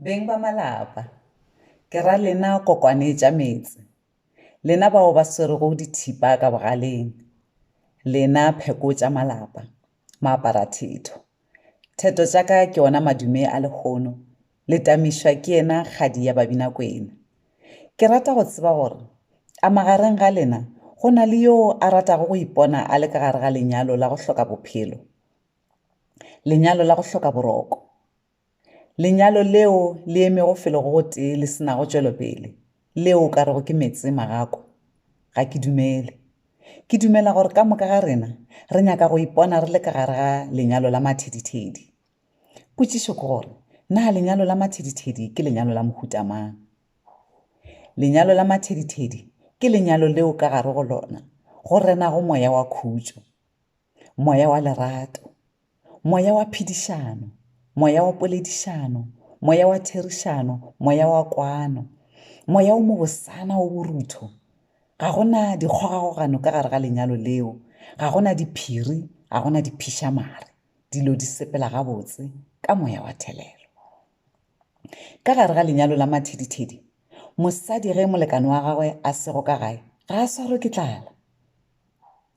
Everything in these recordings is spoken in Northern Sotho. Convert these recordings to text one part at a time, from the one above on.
Beng ba malapa, ke ra lena kokwane tša metse, lena bao ba swerego dithipa ka bogaleng, lena pheko tša malapa, maaparathetho. Theto tša ka ke ona madume a lehono, le tamišwa ke yena kgadi ya Babinakwena. Ke rata go tseba gore a magareng ga lena go na le yoo a ratago go ipona a le ka gare ga lenyalo la go hloka bophelo, lenyalo la go hloka boroko? Lenyalo leo le emego felo go gotee le se nago tšwelopele, leo o ka rego ke meetse magako? Ga ke dumele. Ke dumela gore ka moka ga rena re nyaka go ipona re le ka gare ga lenyalo la mathedithedi. Potšišo ke gore, na lenyalo la mathedithedi ke lenyalo la mohuta mang? Lenyalo la mathedithedi ke lenyalo leo ka gare go lona go renago moya wa khutšo, moya wa lerato, Moya wa phedišano, moya wa poledišano, moya wa therišano, moya wa kwano, moya o mobosana o borutho. Ga go na dikgogagogano ka gare ga lenyalo leo, ga go na diphiri, ga go na diphišamare, dilo di sepela gabotse ka moya wa thelelo. Ka gare ga lenyalo la mathedithedi, mosadi ge molekane wa gagwe a sego ka gae ga a swarwe ke tlala.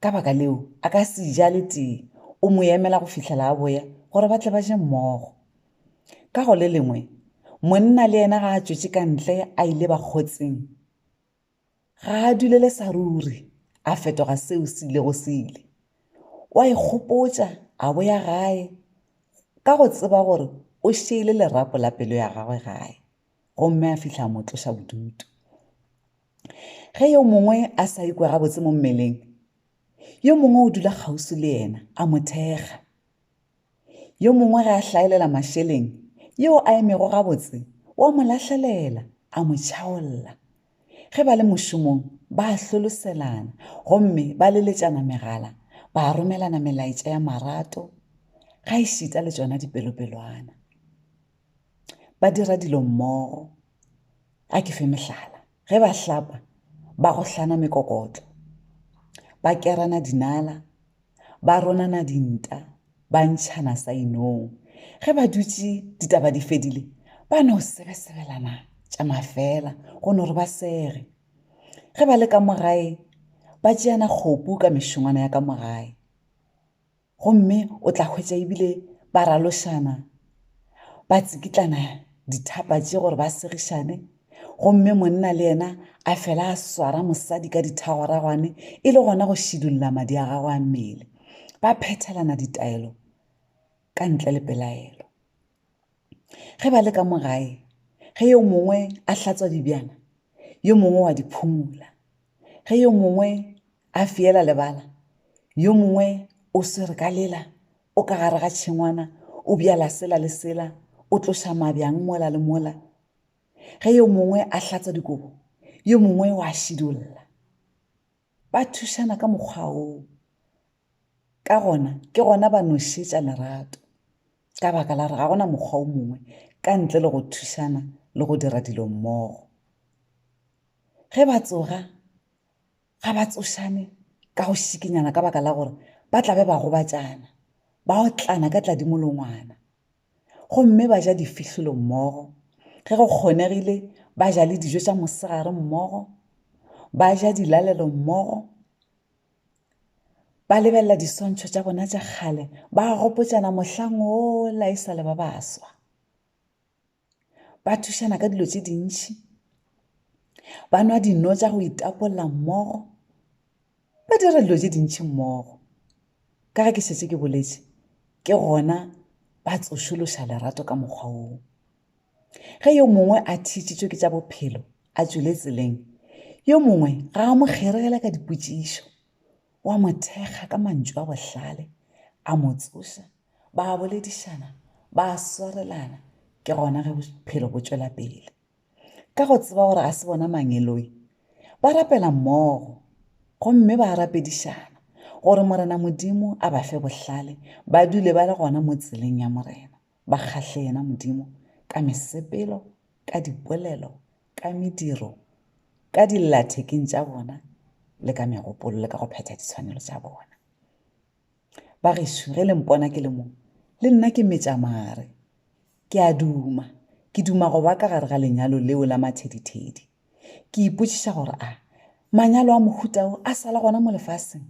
Ka baka leo, a ka se ja le tee, o mo emela go fihlela a boya gore ba tle ba je mmogo. Ka go le lengwe, monna le yena ga a tšwetše ka ntle a ile bakgotsing, ga a dulele sa ruri a fetoga seo se ilego se ile. O a ikgopotša a boya gae ka go tseba gore o šeile lerapo la pelo ya gagwe gae gomme a fihla a mo tloša bodutu. ge yo mongwe a sa ikwe gabotse mo mmeleng yo mongwe o dula kgauswi le yena a mo thekga yo mongwe ge a hlaelela mašeleng yo a emego gabotse wa mo lahlelela a mo tšhaolla ge ba le mošomong ba a hloloselana gomme ba leletšana megala ba romelana melaetša ya marato ga e šita le tšona dipelopelwana ba dira dilo mmogo a ke fe mohlala ge ba hlapa ba go hlana mekokotlo ba kerana dinala ba ronana dinta ba ntšhana sa inong ge ba dutše ditaba di fedile ba no sebesebelana tša mafela go no re ba sege ge ba le ka mogae ba tšeana kgopu ka mešongwana ya ka mogae Gomme o tla hwetša ebile ba ralošana, ba tsikitlana dithaapa tše gore ba segišane, gomme monna le yena a fela a swara mosadi ka dithagwaragwane e le gona go šidulla madi a gagwe a mmele. Ba phethelana ditaelo ka ntle le pelaelo. Ge ba le ka mo gae, ge yo mongwe a hlatswa dibjana, yo mongwe wa di phumola. Ge yo mongwe a fiela lebala, yo mongwe o swere ka lela, o ka gare ga tšhengwana, o bjala sela le sela, o tloša mabjang mola le mola. Ge yo mongwe a hlatswa dikobo, yo mongwe wa šidulla. Ba thušana ka mokgwa woo. ka gona ke gona ba no šetša lerato ka baka la re ga gona mokgwa o mongwe ka ntle le go thušana le go dira dilo mmogo ge ba tsoga ga ba tsošane ka go šikinyana ka baka la gore ba tla be ba gobatšana ba otlana ka tladimolongwana gomme ba ja difihlolo mmogo ge go kgonegile ba ja le dijo tša mosegare mmogo ba ja dilalelo mmogo ba lebelela diswantšho tša bona tša kgale ba gopotšana mohlang ola e sale ba baswa ba thušana ka dilo tše dintši ba nwa dino tša go itapolla mmogo ba dira dilo tše dintši mmogo ka ge ke šetse ke boletše ke gona ba tsošološa lerato ka mokgwa woo Ge yo mongwe a thišitšwe ke tša bophelo a tšwele tseleng, yo mongwe ga a mo kgeregela ka dipotšišo. O a mo thekga ka mantšu a bohlale, a mo tsoša, ba a boledišana, ba a swarelana, ke gona ge bophelo bo tšwela pele. Ka go tseba gore ga se bona mangeloi, ba rapela mmogo gomme ba rapedišana gore Morena Modimo a ba fe bohlale ba dule ba le gona mo tseleng ya Morena. ba kgahle yena Modimo ka mesepelo, ka dipolelo, ka mediro, ka dillathekeng tša bona le ka megopolo le ka go phetha ditshwanelo tša bona. Ba gešo, ge le mpona ke le mo, le nna ke metša mare. Ke a duma, ke duma go ba ka gare ga lenyalo leo la mathedithedi. Ke ipotšiša gore a manyalo a mohuta o a sala gona mo lefaseng?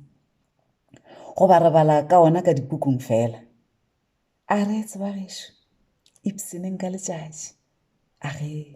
Goba re bala ka ona ka dipukung fela? A re, Tseba gešo, ipshineng ka letšatši. A re.